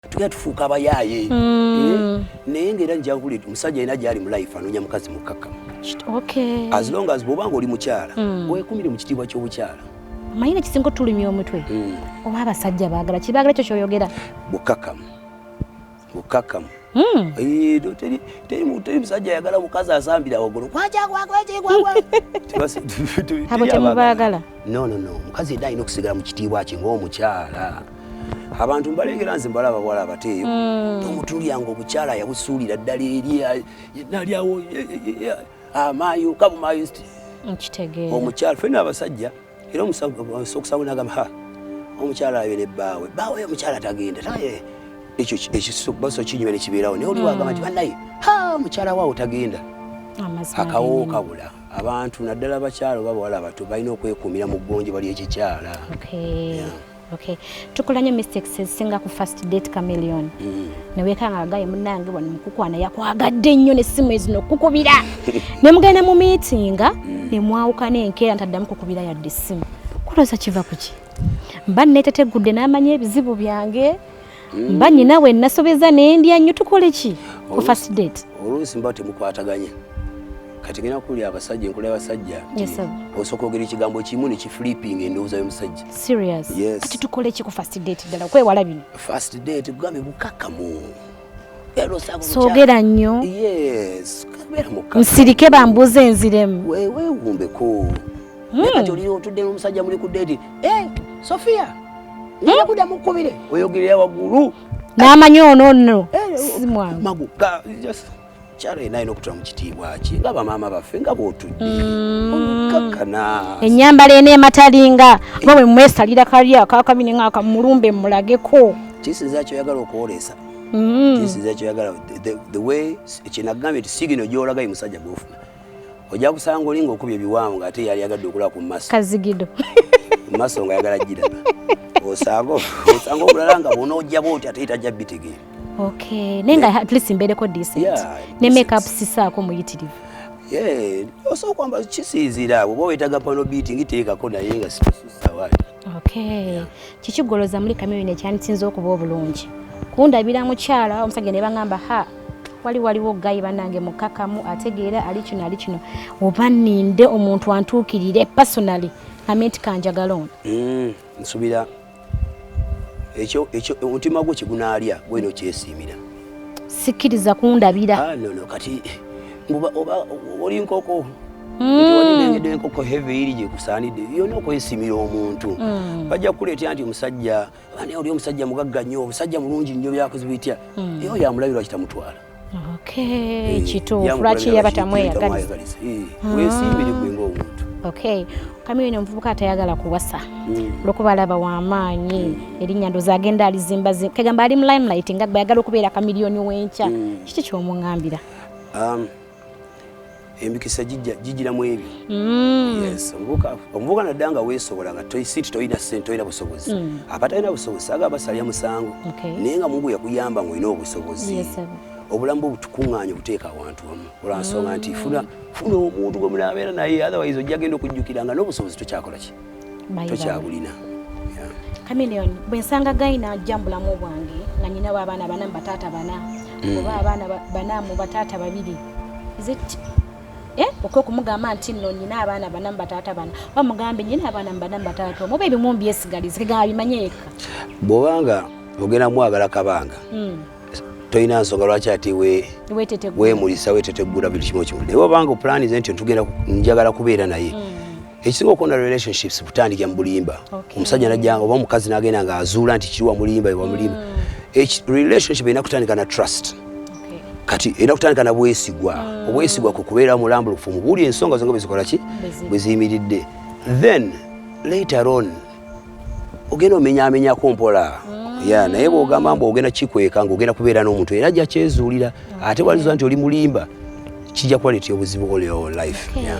tugenda tufuuka abayaaye mm. eh? naye ngaera njawuli omusajja yena gyali mulife anoonya mukazi mukaka as long as bwobanga oli mukyala mm. wekumire mu kitiibwa ky'obukyala manyi nekisinga otulumya omutwe mm. oba abasajja bagala kibagala ekyo kyoyogera bukakamu bukakamu eh, teri musajja ayagala mukazi asambira wagulu abo temubagala nonono mukazi yena alina okusigala mu kitiibwa kye ngaomukyala abantu mbalengera nze mbalaba bwala abateeyo hmm. omutulyanga obukyala yabusuulira ddala eri nalyawo amaayo kabumaayo omukyala fena abasajja era omusokusawo nagamba ha omukyala abe ne bbaawe bbaawe omukyala tagenda taye ekyo ekibaso kinyuma ne kibeerawo naye oliwo agamba nti hmm. banaye ha omukyala waawo tagenda akawo kabula abantu naddala abakyala oba bawala abato balina okwekuumira mu ggonjo bali ekikyala Okay. Tukola nyo mistakes ezisinga ku first date chameleon. Mm. Ne weka nga gaye munange wano mukukwana yakwagadde nnyo ne simu ezino kukubira. ne mugenda mu meeting mm. ne mwawuka ne nkera ntaddamu kukubira yadde simu. Kuloza kiva kuki? Mba netetegudde n'amanya ebizibu byange. mba nyina we nasobeza nendya nnyo tukole ki ku first date oluusi mba temukwataganya kati ngena kuli abasajja enkola y'abasajja osooka ogera ekigambo kimu ne kiflipping endowooza y'omusajja kati tukole ki ku first date ddala okwewala bino first date kugambe bukakamu soogera nnyo nsirike bambuuza enziremu weewumbeko hmm. kati olira otudde n'omusajja muli ku date eh, sofia naye kuda mukubire oyogerera wagulu namanya ono no eh, simwangu magu kyalo yena alina okutula mu kitiibwa kye nga bamaama baffe nga bwotudde mm. olukakana ennyambala eno ematalinga nga bwe mwesalira kali akakabini nga akamulumbe mulageko kisinza kyoyagala okwolesa mm. kisinza kyoyagala the way ekinagambye ti sigino gyolaga ye musajja gwofuna ojja kusanga oli ng'okubye ebiwanvu ng'ate yali yagadde okulaba ku maso kazigido mu maso nga yagala giraba osanga osanga obulala nga bwona ojja bwoti ate tajja bitegeera okay naye nga at least mbeereko decent ne make up sisaako muyitirivu osobola kwamba kisiizira bwoba wetaga pano beating teekako naye nga sikususawa okay kiki goloza muli kamyo ne kyani sinze okuba obulungi kunda bila mukyala omusage ne bangamba ha wali waliwo gayi banange mukakamu ategeera ali kino ali kino oba ninde omuntu antuukirire personally amenti kanjagala ono mm, nsubira ekyo ekyo omutima gwo kigunaalya gweno kyesiimira sikkiriza kundabira ah, no, no, kati oba oli nkoko nti enkoko heve iri gyekusaanidde yona okwesimira omuntu mm. bajja kukuleetera nti omusajja ani oli omusajja mugagga nnyo obusajja mulungi nnyo byakozi bitya mm. eyo yamulabirwa kitamutwala eh, kituufu lwaki yaba tamweyagaliza eh, ah. wesimbire gwe ngaomuntu okay kamiyo ino omuvubuka atayagala kuwasa mm. lwokuba alaba wamaanyi mm. erinnya ndozi agenda alizimba kegamba ali mu limelight nga gwe ayagala okubeera kamiliyoni wenkya mm. kiki kyomuŋambira um, emikisa gijira mu ebyo mm. yes omuvuka omuvuka nadda nga weesobola nga toisiti tolina sente tolina busobozi mm. abatalina busobozi aga basalya musango naye nga mungu yakuyamba nga olina obusobozi obulamu bwo butukuŋŋaanya obuteeka awantu wamu olwa nsonga nti mm. funa funa omuntu gwe munaabeera naye otherwise ojja genda okujjukira nga n'obusobozi tokyakola ki tokyabulina kamilion bwensanga gayina ajja mubulamu bwange nga nyinawo abaana bana mubataata bana hmm. oba abaana bana mubataata babiri eh? oka okumugamba nti no nyina abaana bana mubataata bana oba mugambe nyina abaana mubana mubataata omu oba ebimu mbyesigalize kegamba bimanye yekka bwobanga ogenda mwagala kabanga hmm. tolina nsonga lwaki ati wemulisa wetetegula buli kimu kimu naye obanga opulanize nti ntugenda njagala kubeera naye mm. ekisinga okonda relationships butandikira mu bulimba omusajja najja oba omukazi nagenda nga azuula nti kiri wamulimba ewamulimba mm. relationship erina kutandika na trust kati erina kutandika na bwesigwa mm. obwesigwa ku kubeera mulambulufu mu buli ensonga zonga bwezikola ki bweziyimiridde then later on ogenda omenyamenyako mpola mm. ya naye bwogamba mbu ogenda kikweka nga ogenda kubeera n'omuntu era ajja kyezuulira ate waliza nti oli mulimba kijja kuba leti obuzibu oleo life yeah.